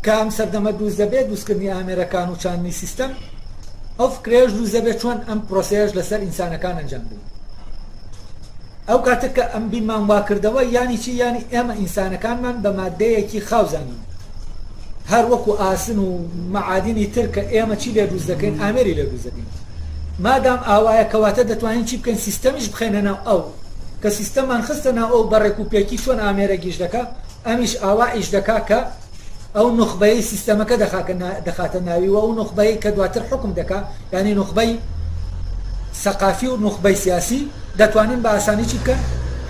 کە ئەم سەردەمە دروست دەبێت، دروستکردنی ئامێرەکان و چاندنی سیستەم، ئەو فکرەیەش دروست دەبێت چۆن ئەم پرۆسەیەش لەسەر ئینسانەکان ئەنجام بدەین. ئەو کاتە کە ئەم بیرمان وا کردەوە یانی چی؟ یانی ئێمە ئینسانەکانمان بە ماددەیەکی خاو زانیوە، هەر وەکو ئاسن و مەعادینی تر کە ئێمە چی لێ دروست دەکەین؟ ئامێری لێ دروست دەکەین. مادام ئاوایە کەواتە دەتوانین چی بکەین؟ سیستەمیش بخەینە ناو ئەو. کە سیستەممان خستە ناو ئەو بە ڕێکوپێکی چۆن ئامێرە گیژ دەکا، ئەمیش ئاوا ئیش دەکا کە ئەو نوخبەیەی سیستەمەکە دەخاتە ناوی و ئەو نوخبەی کە دواتر حوکم دەکا یانی نوخبەی سەقافی و نوخبەی سیاسی دەتوانن بە ئاسانی چی بکەن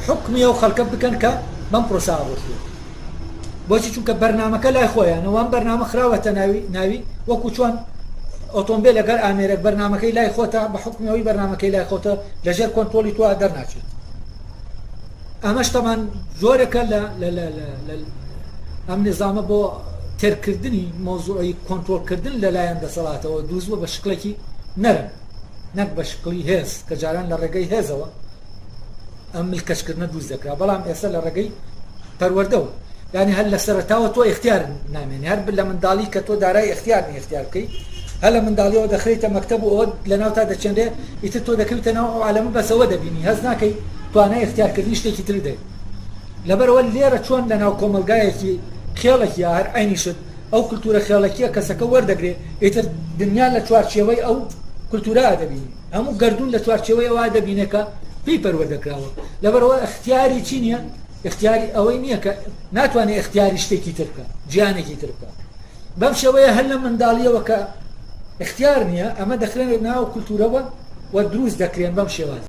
حکمی ئەو خەڵکە بکەن کە بەم پرۆسە ڕۆشتوە بۆچی چونکە بەرنمەکە لای خۆیانە وام بەرنامە خراوەتە ناوی ناوی وەکو چۆن ئۆتۆمبیل لەگەر ئامێرەک بەرنمەکەی لای خۆتە بە حکمیەوەی بەرنمەکەی لای خۆتە لەژێر کۆنتۆلی تۆ دەرناچێت ئەمەش تەمان جۆرەکە لە ئەم نظامە بۆ تێرکردنی مۆزوعی کۆنتترۆلکردن لەلایەن دەسەڵاتەوە دووزوە بە شکلێکی نەرم نەک بە شکلی هێز کە جاران لە ڕێگەی هێزەوە ئەم ملکەشکردنە دووز دەکرا بەڵام ئێستا لە ڕێگەی پەروەردەوە یانی هەر لەسەرەتاوە تۆ ئیختیار نامێنی هەر لە منداڵی کە تۆ دارای ئیختیار نی ئیختیار بکەی هەر لە منداڵیەوە دەخریتە مەکتەب و ئەوەت لەناو تا دەچێنرێ ئیتر تۆ دەکەویتە ناو ئەو عالەمە بەس ئەوە دەبینی هەست ناکەی توانای ئیختیار کردنی شتێکی ترت هەیە لەبەرەوە لێرە چۆن لەناو کۆمەڵگایەکی خێڵێک یا هەر عینی شت ئەو کلتورە خێڵەکیە کەسەکە وەردەگرێ ئیتر دنیا لە چوارچێوەی ئەو کلتورا دەبینی هەموو گردون لە چوارچێوەی ئەوە دەبینێکە پێی پەروەردە کراوە لەبەرەوە اختیاری چی نیە ئیختیاری ئەوەی نییە کە ناتوانێت ئختیاری شتێکی تر بکە جیانێکی تر بکە بەم شێوەیە هەر لە منداڵیەوە کە اختیار نییە ئەمە دەخرێنێت ناو کولتورەوە و دروست دەکرێن بەم شێوازە